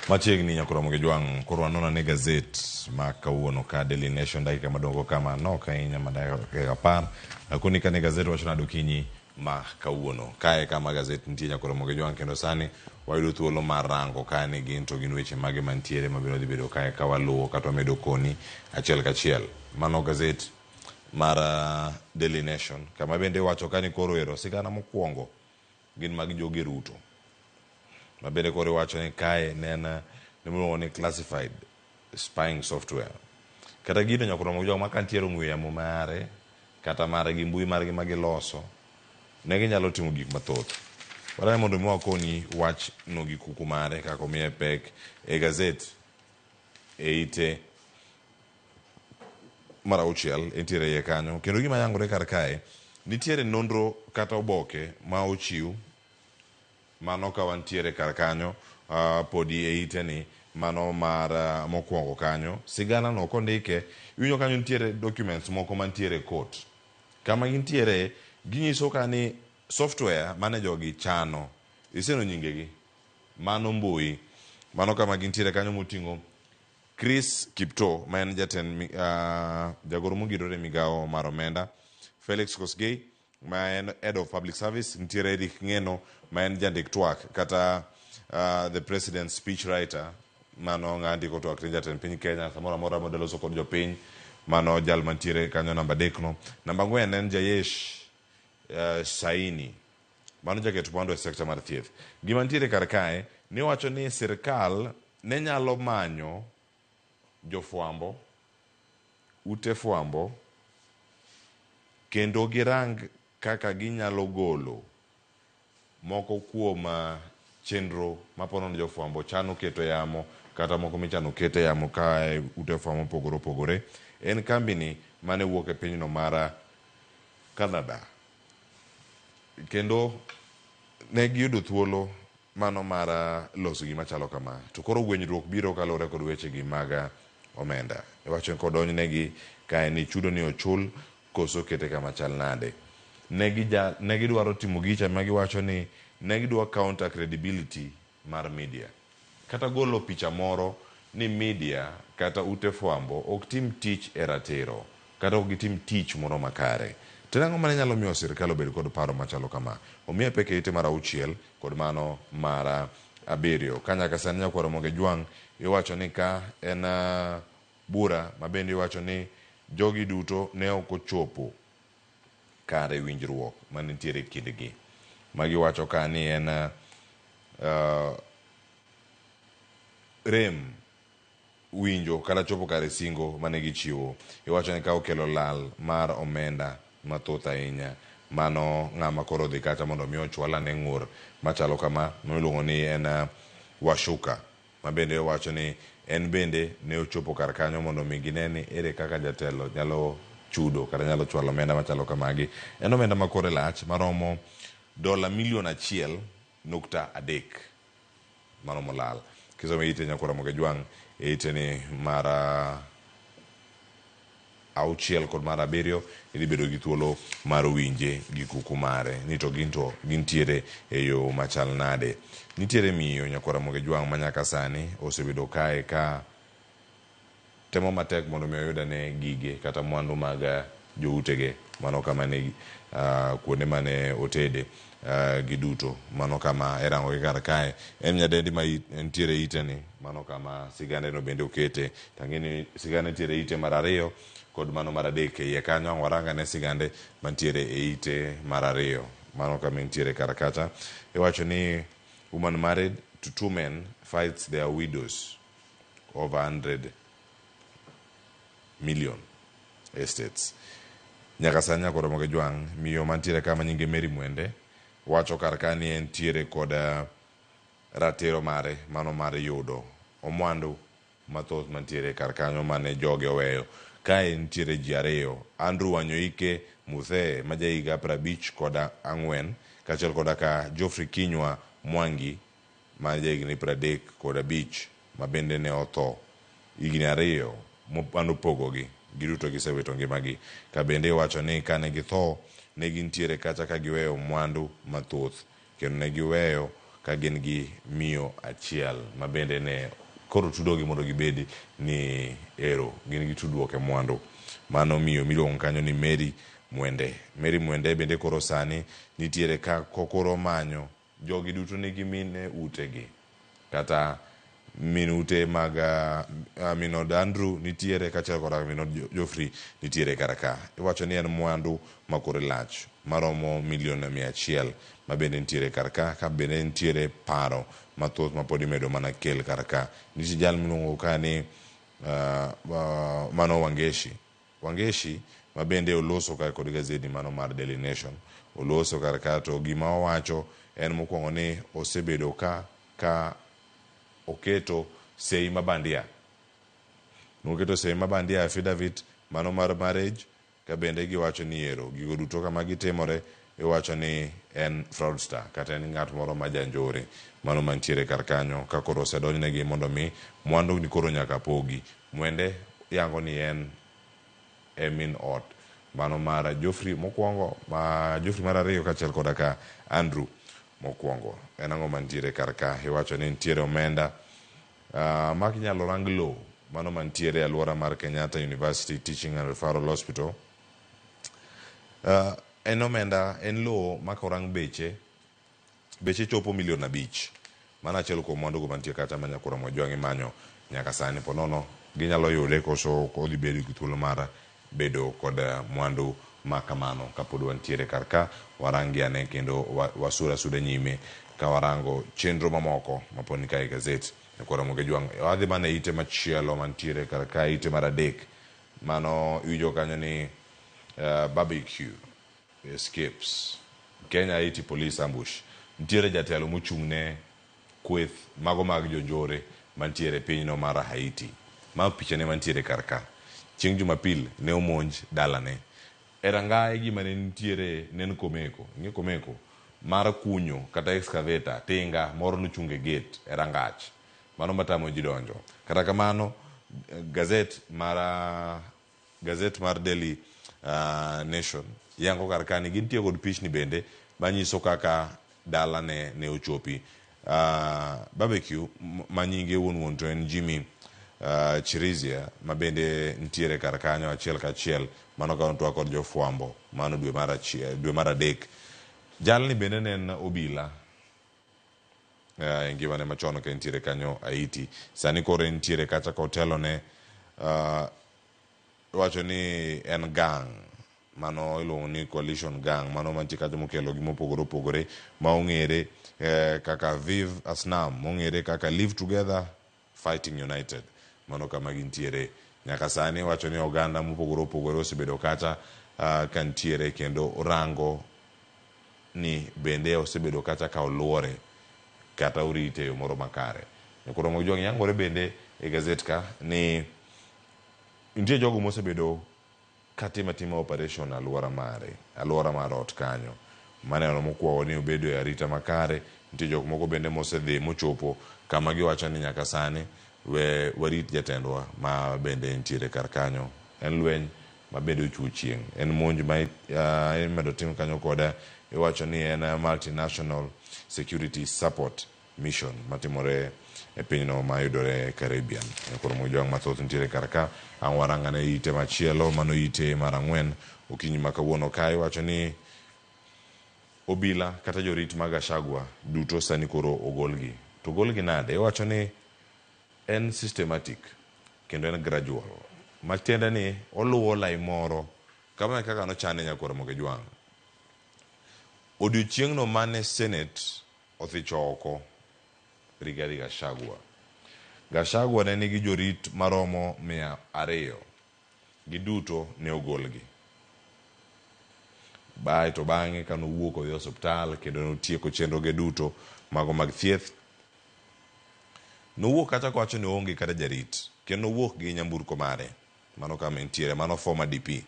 machiegni nyakoromo gi jwang' koro anona ne gazet ma kawuono ka daily nation dakika madongo kama nok ahinya ma dakika apar akoni kane gazet wacho nado kinyi ma kawuono kae kama gazet nitie nyakoromo gi jwang' kendo sani wayudo thuolo mar rango kae ni gin to gin weche mage mantiere mabiro dhi bedo kae ka waluwo kata wamedo koni achiel kachiel mano gazet mar uh, Daily Nation kama bende iwacho ka ni koro ero sigana mokwongo gin mag jogi Ruto ma bende koro iwacho ni kae ne en uh, nimiluongo ni classified spying software kata gino nyaka romo joma kantiere ong'we yamo mare kata mare gi mbui margi ma giloso ne ginyalo timo gik mathoth wadane mondo mi wakoni wach no gi kuku mare kaka omiye pek e gazet e ite mar auchiel entiere iye kanyo kendo gima yangore kar kae nitiere nonro kata oboke ma ochiw mano ka wantiere kar kanyo ah, podi e iteni mano mar ah, mokwongo kanyo sigana no kondike iwinjo kanyo nitiere documents moko mantiere e court kama gintiere ginyiso ka ni software mane jogi chano iseno nyingegi mano mbui mano kama gintiere kanyo moting'o Chris Kiptoo ma en jatend mi- ah, jagoro mogirore e migawo mar omenda, Felix Kosgei ma en head of public service, nitiere Eric Ngeno ma en jandik twak kata ah, the president speech writer mano ng'a ndiko twak ne jatend piny Kenya samoro amora modwa loso kod jopiny mano jal mantiere kanyo namba adekno. Namba ang'wen en Jayesh eh, Saini Mano jaket mwandu e sekta mar thieth. Gima nitiere kar kae ni wacho ni sirkal ne nyalo manyo jofwambo, ute fwambo kendo girang kaka ginyalo golo moko kuom chenro mapono ni jofwambo chano keto e yamo kata moko michano ket e yamo ka ute fwambo mopogore opogore. En kambini mane wuok e pinyno mar Canada. Kendo ne giyudo thuolo mano mar loso gima chalo kama. To koro gwenyruok biro kaluwore kod wechegi mag omenda. Iwacho ni kodonjnegi kae ni chudo ni ochul koso kete kama chal nade. Ne gidwaro timo gicha ma giwacho ni ne gidwa counter credibility mar media kata golo picha moro ni media kata ute fwambo ok tim tich e ratiro kata ok gitim tich moro makare. To en ang'o mane nyalo miyo sirkal obed kod paro machalo kama? Omiya pek e ite mar auchiel kod mano mar abiriyo. Ka nyaka sani nyakwar Omoge Jwang' iwacho ni ka en bura mabende iwacho ni jogi duto ne ok ochopo kare winjruok mane nitiere e kindgi. Ma giwacho ka ni en uh, rem winjo kata chopo kare singo mane gichiwo. Iwacho ni ka okelo lal mar omenda mathoth ahinya mano ng'ama koro odhi kacha mondo mi ochwal ane ng'ur machalo kama miluongo ni en uh, washuka. ma bende owacho ni en bende ne ochopo kar kanyo mondo mi gine ni ere kaka jatelo nyalo chudo kata nyalo chwalo omenda machalo kamagi. En omenda ma kore lach maromo dola milion achiel nukta adek. Mano molal. Kisome ite Nyakuramogi Ajwang' e iteni mar auchiel kod mar abiriyo idhi bedo gi thuolo mar winje gi kuku mare ni to gin to gintiere e yo machal nade. Nitiere miyo Nyakwar Ramogi Jwang' ma nyaka sani osebedo kae ka temo matek mondo mi oyud ane gige kata mwandu mag joutege mano kama ne kuonde mane otede. Uh, giduto mano kama erangogi kar kae en nyadendi ma ntiere ite ni mano kama sigande no bende okete tangeni sigande ntiere ite mar ariyo kod mano mar adek e iye kanyo ang' waranga ne sigande mantiere e ite mar ariyo mano kama intiere kar kacha iwacho ni woman married to two men fights their widows over 100 million estates nyaka sani nyaka oromo gi jwang' miyo mantiere ka ma nyinge Mary Mwende wacho kar ka ni entiere kod ah, ratiro mare mano mar yudo omwandu mathoth mantiere kar kanyo mane joge oweyo kae nitiere ji ariyo Andrew Wanyoike Muthee ma jahiga prabich kod ang'wen kaachiel koda ka Geoffrey Kinywa Mwangi ma jahigni pradek kod abich ma bende ne otho higni ariyo mane opogogi, giduto gisewito ngimagi. Ka bende iwacho ni kane githo ne gintiere kacha ka giweyo mwandu mathoth kendo ne giweyo ka gin gi miyo achiel ma bende ne koro tudogi mondo gibed ni ero gin gi tudruok e mwandu. Mano miyo miluongo kanyo ni Mary Mwende. Mary Mwende bende koro sani nitiere ka kokoro omanyo Jogi duto nigi min e utegi. Kata min ute mag uh, min od Andrew nitiere kaachiel kod min od Geoffrey nitiere kar ka. Iwacho ni en mwandu ma kore lach maromo milion mia achiel ma bende nitiere kar ka, ka bende nitiere paro mathoth ma pod imedo mana kel kar ka. Nitie jal miluongo ka ni uh, uh, Mano Wangeshi. Wangeshi ma bende oloso kar kod gazedi mano mar Daily Nation oloso kar ka to gima owacho en mokuongo ni osebedo ka ka oketo sei ma bandia noketo sei ma bandia affidavit mano mar marriage ka bende giwacho ni ero gigo duto kama gitimore Iwacho ni en fraudster kata en ngat moro ma ja njore mano mantiere kar kanyo ka koro osedonjnegi mondo mi mwandu ni koro nyaka pogi. Mwende yango ni en e min ot mano mar Geoffrey mokuongo, ma Geoffrey mar ariyo kachiel koda ka Andrew mokuongo. En ango mantiere kar ka? Iwacho ni nitiere omenda mak inyalo rang low mano mantiere e aluora mar Kenyatta University Teaching and Referral Hospital. En omenda, en lowo ma ka orang beche, beche chopo milion abich. Mano achiel kuom mwandugo mantie kacha ma Nyakura Mwajwang'i manyo nyaka sani. Po nono ginyalo yude koso odhi bedo gi thuolo mar bedo kod mwandu ma kamano ka pod wantiere kar ka. Warang gi ane kendo wasud asuda nyime ka warango chenro mamoko ma pod ni kae e gazet. Nyakura Mwajwang' wadhi mana e ite machielo mantiere kar ka, ite mar adek. Mano iwinjo kanyo ni barbecue escapes Kenya Haiti police ambush. Nitiere jatelo mochung' ne kweth mago mag jonjore mantiere e pinyno mar Haiti. Ma pichane mantiere kar ka. Chieng' Jumapil ne omonj dalane. E rangaye gima ne nitiere ne en komeko, ing'e komeko? Mar kunyo kata excavator, tinga, moro nochung' e gate, e rangach. Mano ma tamo ji donjo. Kata kamano, gaset mar gaset mar Daily Nation yango kar ka ni gintie kod pichni bende manyiso kaka dalane ne ochopi. Barbecue ma nyinge wuon wuon to en Jimmy Chirizia ma bende nitiere kar kanyo achiel kachiel. Mano ka notwak kod jofwambo mano dwe mar achiel, dwe mar adek. Jalni bende ne en obila uh, ngimane machon ka entiere kanyo Haiti sani koro entiere kacha ka otelone uh, wacho ni en gang mano iluongo ni coalition gang mano mantie kacha mokelo gi mopogore opogore ma ong'ere eh, kaka Viv Asnam mong'ere kaka Live Together Fighting United. Mano kama gintiere nyaka sani. Wacho ni oganda mopogore opogore osebedo kacha ka ntiere kendo rango ni bende osebedo kacha ka oluore kata orite e yo moro makare. Nyako Ramogi Jwang' yangore bende e gazet ka ni nitie jogo mosebedo Katim atima operation aluora mare, aluora mar ot kanyo, maneno mokuawa ni obedo e arita makare, nitie jok moko bende mosedhi mochopo kama giwacho ni nyaka sani we warit jatendwa ma bende entiere kar kanyo. En lweny ma bende ochuo chieng'. En monj ma imedo tim kanyo kod iwacho ni en multi-national security support. Mission matimore e pinyno ma yudore e Caribbean. E koro mojwang' mathoth nitiere kar ka. Ang' warang ane ite machielo, mano ite mar ang'wen. Okinyi ma kawuono ka iwacho ni obila kata jorit mag Gachagua duto sani koro ogolgi. To ogolgi nade? Iwacho ni en systematic kendo en gradual. Matiende ni oluwo lai moro. Kamano e kaka nochane Nyakoro Mogejwang'. Odiochieng'no mane Senate Othich oko, Rigathi Gachagua. Gachagua ne nigi jorit maromo mia ariyo. Giduto ne ogolgi. Bae to bang'e ka nowuok odhi osiptal kendo notieko chenroge duto mago mag thieth, nowuok kacha kowacho ni oonge kata jarit kendo nowuok gi nyamburko mare mano kama entiere, mano former DP.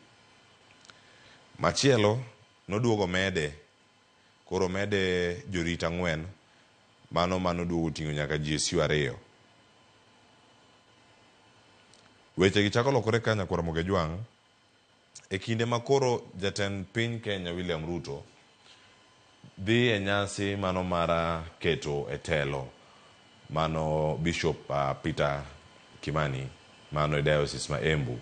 Machielo noduogo omede. Koro mede jorit ang'wen, mano mano duogo oting'o nyaka GSU ariyo. Weche gi chako lokore ka nyakwar Mogejwang', e kinde ma koro jatend piny Kenya William Ruto dhi e nyasi mano mar keto e telo mano Bishop Peter Kimani mano e Diocese ma Embu.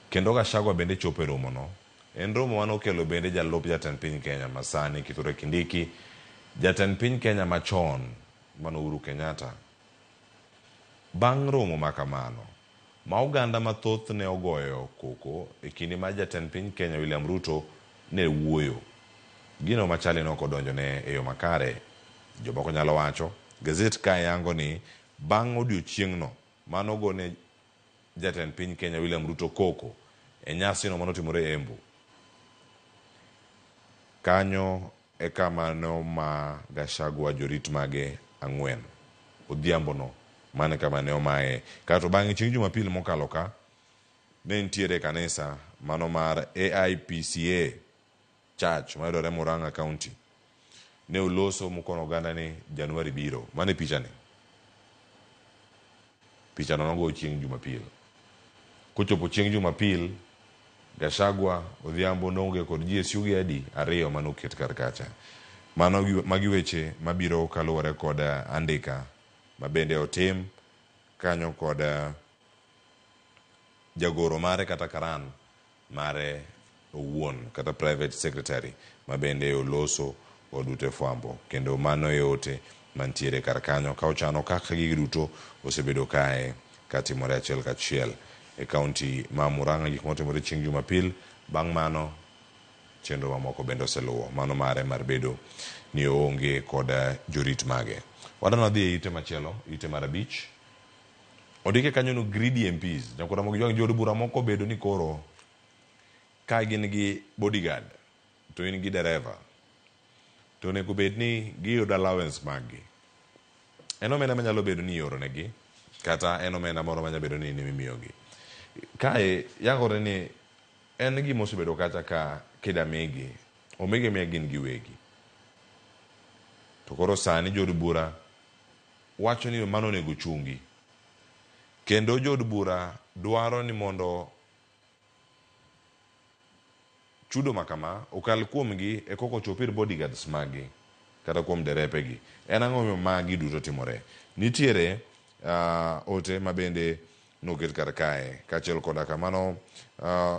Kendo Gachagua bende chopo e romo no. En romo mane okelo bende jalup jatend piny Kenya masani Kithure Kindiki, jatend piny Kenya machon mane Uhuru Kenyatta. Bang' romo makamano, ma oganda mathoth ne ogoyo koko e kinde ma jatend piny Kenya William Ruto ne wuoyo, gino machali ne ok odonjone e yo makare. Jomoko nyalo wacho, gazet kae yango ni bang' odiochieng'no mane ogone Jatend piny Kenya William Ruto koko e nyasino mane otimore Embu. Kanyo e kama ne oma Gachagua jorit mage ang'wen odhiambono. Mano e kama ne omaye. Kaeto bang'e chieng' Jumapil mokalo ka, ne nitiere e kanisa mano mar AIPCA. Church mayudore Murang'a County ne oloso mokono oganda ni Januari biro. Mano e pichani. Pichano nogo chieng' Jumapil. Kochopo chieng' Jumapil, Gachagua, Odhiambo, Nonge kod GSU gi adi ariyo mane oket kar kacha. Mano magi weche mabiro kaluwore kod andika mabende otim kanyo kod jagoro mare kata karan. mare owuon kata private secretary mabende oloso od ute fwambo kendo mano e ote mantiere kar kanyo ka ochano kaka gigi duto osebedo kae katimore achiel kachiel e kaunti ma Murang'a gik motimore chieng' jumapil bang' mano chenro mamoko bende oseluwo mano mare mar bedo ni oonge kod jorit mage. Wadan wadhi e ite machielo ite mar abich Ondike kanyo no greedy MPs. Nyakwara mog jwang' jood bura moko obedo ni koro ka gin gi bodyguard to in gi dereva to onego bed ni giyudo allowance maggi. En omenda manyalo bedo ni ioronegi kata en omenda moro manyalo bedo ni nimiyogi. Kae yangore ni en gima osebedo kacha ka kida migi, omigi amiya gin giwegi. To koro sani jood bura wacho ni mano onego ochungi. Kendo jo od bura dwaro ni mondo chudo ma kama okal kuomgi e koka ochop ir bodyguards maggi kata kuom derepegi. En ang'o momiyo magi duto timore? Nitiere uh, ote ma bende noket kar kae kaachiel koda kamano uh,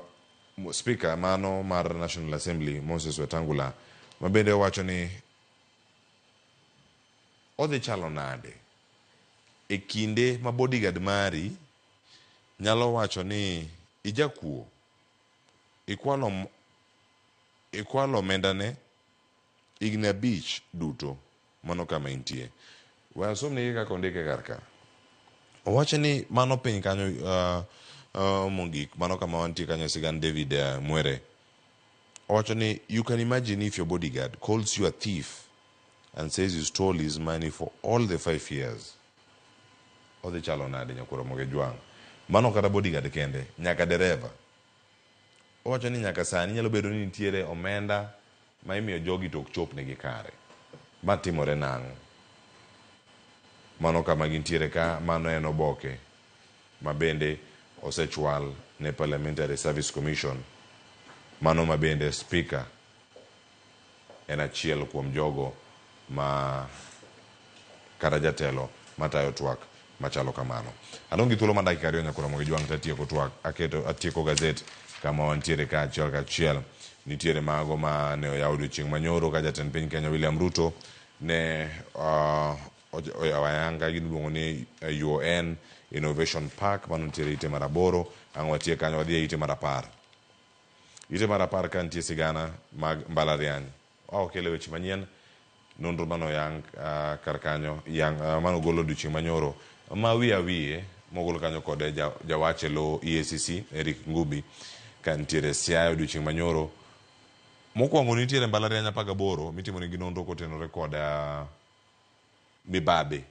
spika mano mar National Assembly Moses Wetangula ma bende owacho ni Odhi chalo nade e kinde ma bodyguard mari nyalo wacho ni ijakuo, ikwalo ikwalo omendane higni abich duto? Mano kama intie. We asomnigi kaka ondike kar ka. Owacho ni mano piny kanyo mogik, mano kama wantie kanyo e sigand David Mwere. Owacho ni you can imagine if your bodyguard calls you a thief. and says you stole his money for all the five years, odhi chalo nade Nyakuo Ramogi Ojwang'? Mano ok kata bodyguard kende, nyaka dereva. Owacho ni nyaka sani nyalo bedo ni nitiere omenda ma imiyo jogi to ok chopnegi kare. Ma timore nang'o? Mano kama gintiere ka, mano en oboke ma bende osechwal ne Parliamentary Service Commission, mano ma bende Speaker, en achiel kuom jogo ma kata jatelo matayo twak machalo kamano. Adong' gi thuolo ma dakika ariyo nyaka oromo gi jwang' to atieko twak, aketo atieko gazet kama wantiere ka achiel ka achiel. Nitiere mago ma ne oyaw odiochieng' ma nyoro ka jatend piny Kenya William Ruto ne uh, oyawo ayanga gini iluongo ni eh, UN Innovation Park mano nitiere ite mar aboro. Ang' watie kanyo wadhi e ite mar apar. Ite mar apar ka nitie sigana mag mbalariany oa okele weche manyien nonro mano yang uh, kar kanyo yang uh, mano golo odiochieng' manyoro ma wiye awiye mogol kanyo kod ja, jawach e lo EACC Eric Ngubi ka nitiere Siaya odiochieng' manyoro mokwongo nitiere mbalariany apar gaboro mitimo nigi nonro kotenore kod uh, mibabe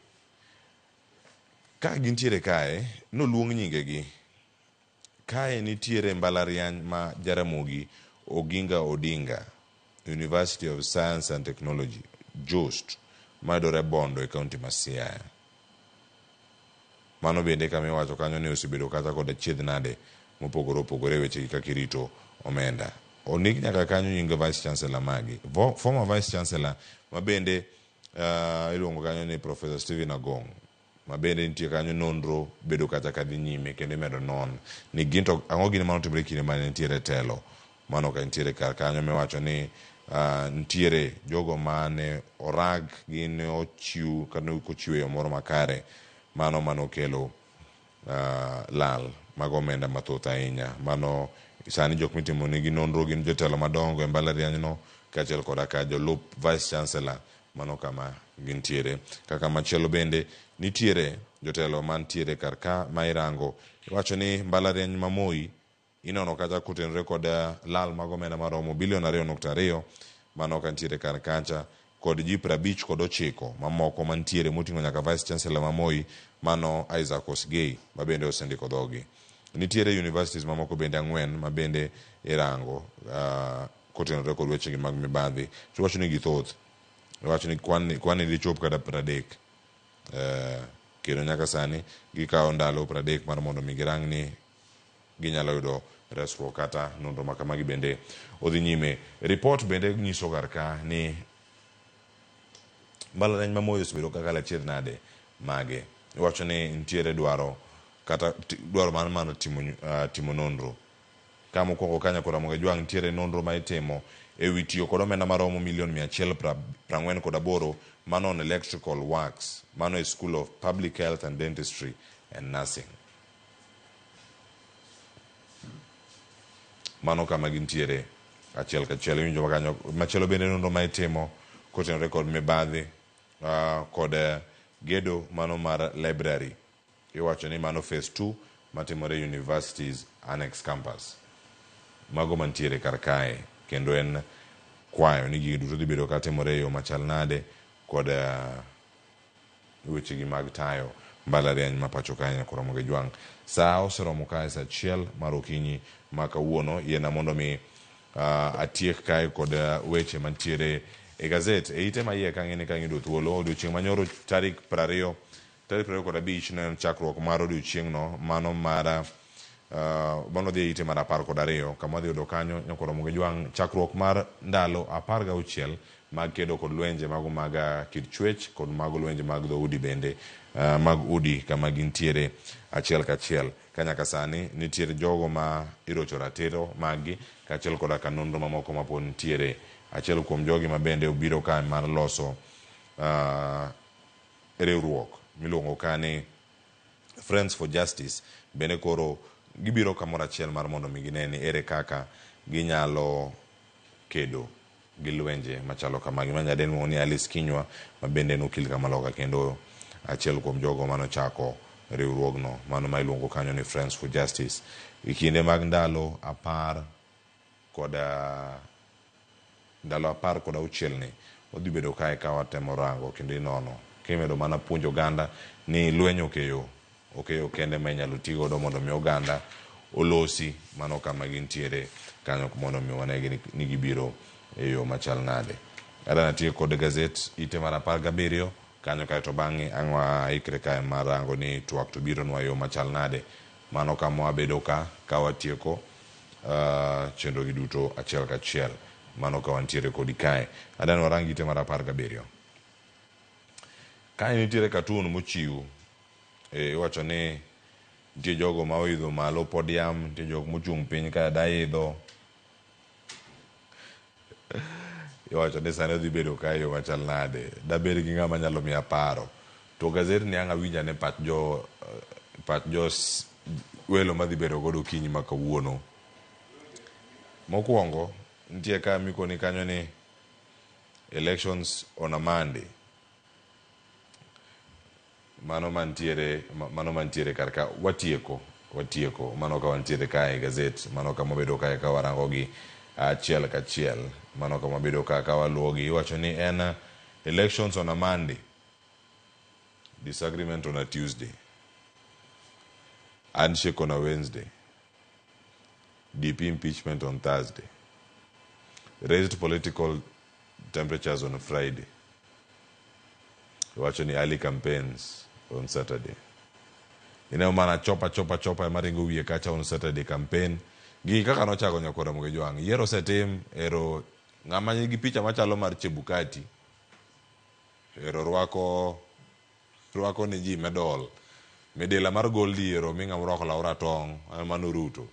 ka gintiere kae noluong nyingegi Kae nitiere mbalariany ma Jaramogi Oginga Odinga, University of Science and Technology, JOST, mayudore Bondo e kaunti ma Siaya. Mano bende kama iwacho kanyo ni osebedo kata kod achiedh nade mopogore opogore e weche gi kaka irito omenda. Ondik nyaka kanyo nying Vice Chancellor magi. Former Vice Chancellor mabende iluongo kanyo ni Professor Stephen Agong'. ma bende nitie kanyo nonro bedo kacha ka dhi nyime kendo imedo non ni gin to ang'o gini mane otimore kinde mane nitiere telo mano ka nitiere kar kanyo miwacho ni uh, nitiere jogo mane orag gi ne ochiw kata ne ochiw e yo moro makare mano mane okelo uh, lal mag omenda mathoth ahinya mano sani jok mitimo nigi nonro gin jotelo madongo e mbalarianyno kaachiel koda ka jolup vice chancellor Mano kama gintiere. Ka kamachielo bende nitiere jotelo mantiere kar ka ma irango. Iwacho ni mbalariany ma Moi inono kacha kotenore kod lal mag omenda maromo bilion ariyo nukta ariyo mano ka nitiere kar kacha kod ji prabich kod ochiko mamoko mantiere moting'o nyaka Vice Chancellor ma Moi mano Isaac Osgei ma bende osendiko dhogi. Nitiere universities mamoko bende ang'wen ma bende irango. Uh, kotenore kod wechegi mag mibadhi to iwacho ni githoth iwacho ni kwan ni kwan ni dichop kata pradek eh, kendo nyaka sani gikawo ndalo pradek mar mondo mi girang ni ginyalo yudo resruok kata nonro ma kamagi bende odhi nyime ripot bende nyiso kar ka ni mbalariany ma Moi osebedo kaka lachiedh nade mage iwacho ni nitiere dwaro kata ti- dwaro mar mar timo nyu- ah, timo nonro Ka mokwongo kanyakla Ramogi Ajwang' nitiere nonro ma itimo e wi tiyo kod omenda maromo milion mia achiel prang'wen kod aboro ma non electrical works, mano e School of Public Health and Dentistry and Nursing. Mano kama gintiere achiel kachiel iwinjo ma kanyo. Machielo bende nonro ma itimo kotenore kod mibadhi uh, kod uh, gedo mano mar library Iwacho ni mano phase two matimore University's Annex Campus. Mago mantiere kar kae kendo en kwayo ni gigi duto dhi bedo ka timore e yo machal nade kod wechegi mag tayo mbalariany ma pacho kae nyaka oromo gi jwang'. Sa oseromo kae sa achiel mar okinyi ma kawuono. Yiena mondo mi atiek kae kod weche mantiere e gazet. E ite ma iye ka ang'e ni ka ang'e yudo thuolo odiochieng' manyoro tarik prariyo Tarik piero ariyo kod abich ne en chakruok mar odiechieng'no, mano mar uh, mano dhi ite mar apar kod ariyo. Kama dhi yudo kanyo nyaka romo gi jwang' chakruok mar ndalo apar gauchiel mag kedo kod lwenje mago mag uh, kit chwech kod mago lwenje mag dhoudi bende uh, mag udi kama gintiere achiel kachiel ka nyaka sani nitiere jogo ma irocho ratiro maggi kaachiel koda ka nonro mamoko mapod nitiere achiel kuom jogi ma bende obiro ka mar loso uh, Riwruok miluongo ka ni Friends for Justice bende koro gibiro kamoro achiel mar mondo mi gine ni ere kaka ginyalo kedo gi lwenje machalo kamagi. Ma nyadendwa iluongo ni Alice Kinyua ma bende en okil ka ma loka kendo achiel kuom jogo mane ochako riwruogno mano ma iluongo kanyo ni Friends for Justice. E kinde mag ndalo apar kod ndalo apar kod auchiel ni wadhi bedo kae ka watemo rango kendo inono kimedo mana puonjo oganda ni lweny ok e yo, ok e yo kende ma inyalo ti godo mondo mi oganda olosi mano kama gintiere kanyo mondo mi wane gi ni gibiro e yo machal nade. Adwa natiek kod gazet ite mar apar gabiriyo kanyo kaeto bang'e ang'wa ikre kae mar rango ni twak to bironwa e yo machal nade. Mano kama wabedo ka, ka watieko chenrogi duto achiel kachiel. Mano ka wantiere kodi kae. Adani warang gite mar apar gabiriyo. Kae nitiere cartoon mochiw. E, iwacho ni nitie jogo ma oidho malo podium, nitie jok mochung' piny ka daidho. Iwacho ni sani odhi bedo ka e yo machal nade? Dabed gi ng'ama nyalo miya paro. To gasedni ang' awinj ane pach jo pach jo welo madhi bedo godo okinyi ma kawuono. Mokwongo, nitie ka mikoni kanyo ni elections on a Monday. Mano mantiere, mano mantiere kar ka. Watieko, watieko. Mano ka wantiere kae e gazet, mano kama wabedo kae ka warangogi achiel kachiel. Mano kama wabedo ka ka waluwogi. Iwacho ni en elections on a Monday, disagreement on a Tuesday, handshake on a Wednesday, DP impeachment on Thursday, raised political temperatures on Friday. Iwacho ni early campaigns on Saturday. Ineno mana chopa chopa chopa ema ringo wiye kacha on Saturday campaign. Gigi kaka nochago Nyakwa Ramogi Jwang'. Yiero osetim, ero ng'ama nigi picha machalo mar Chebukati. Ero rwako Rwako ni ji medol. Midila mar gold iero omi ng'ama orwako law ratong', en Manu Ruto.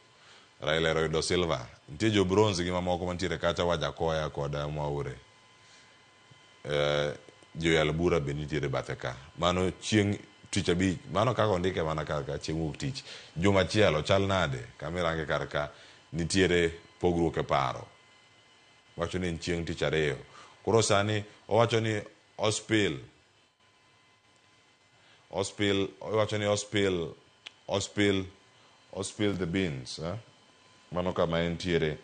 Raila ero oyudo silver. Nitie jo bronze gi mamoko mantiere kacha Wajakoya kod Mwaure. Joyal bura be nitiere bathe ka. Mano chieng' tich abich, mano kaka ondike mana kar ka chieng' wuok tich. Juma chielo chal nade? Kama irange kar ka nitiere pogruok e paro. Wacho ni en chieng' tich ariyo. Koro sani owacho ni ospill. Ospil, iwacho ni ospil, ospil, ospil the beans. Eh? Mano kama entiere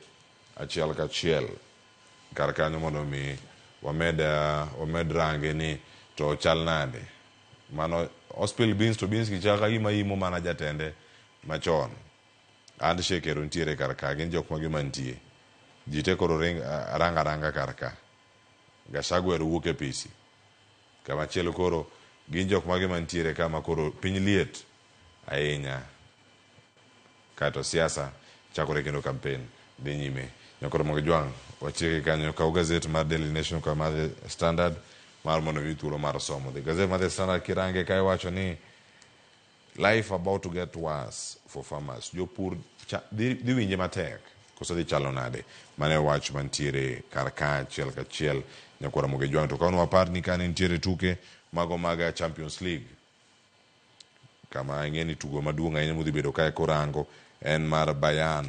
achiel kachiel kar kanyo mondo mi wamed, uh, wamed range ni to chal nade. Mano ospil beans to beans kichaka gima imo mana jatende machon. And shekero ntiere kar ka, gin jok magi mantie. Ji te koro ring, uh, ranga ranga kar ka. Gashagwer wuok e pisi. Kamachielo koro gin jok mage mantiere ka ma koro piny liet ahinya kaeto siasa chakore kendo kampen dhi nyime. Nyakwar Mogejwang', watieke kanyo. Kaw gazet mar Daily Nation kod mar The Standard mar mondo omi thuolo mar somo. The gazet mar The Standard kirange kae wacho ni, Life about to get worse for farmers. Jopur cha- dhi dhi winje matek koso dhi chalo nade? Mano e wach mantiere kar ka achiel kachiel nyakwara moge jwang' to kaon wapar ni kane nitiere tuke mago mag Champions League kama ing'e ni tugo maduong' ahinya mudhi bedo kae korango en mar Bayern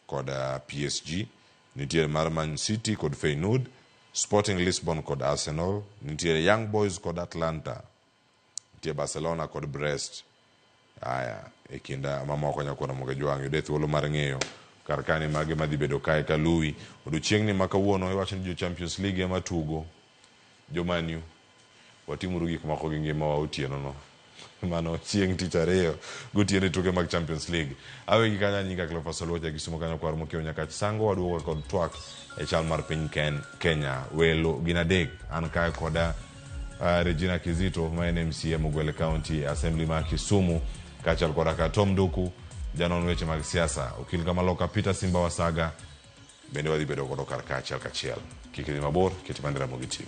kod uh, PSG nitiere mar Man City kod Feyenoord Sporting Lisbon kod Arsenal nitiere Young Boys kod Atlanta Nitie Barcelona kod Brest. Aya, e kinda mamoko nyakwar Ramogi Jwang' yude thuolo mar ng'eyo kar kani mage madhi bedo kae ka luwi. Odiochieng'ni ma kawuono iwacho ni jo Champions League ema tugo. Jo Man U, watimuru gik moko gi ngimawa otieno no. Mano chieng' tich ariyo gotieno e tuke mag Champions League. Awe gi kanyo an nyinga Cleophas Oluoch a Kisumo kanyo kwar mokiewo Nyakach Sango waduogo kod twak e chal mar piny Kenya. Welo gin adek, an kae koda Uh, Regina Kizito ma en MCA Mugwele County Assembly ma Kisumu kaachiel kod aka Tom Duku janon weche mag siasa okil Kamaloka Peter Simba Wasaga bende wadhi bedo godo kar kaachiel kachiel kik idhi mabor keti mana Ramogi TV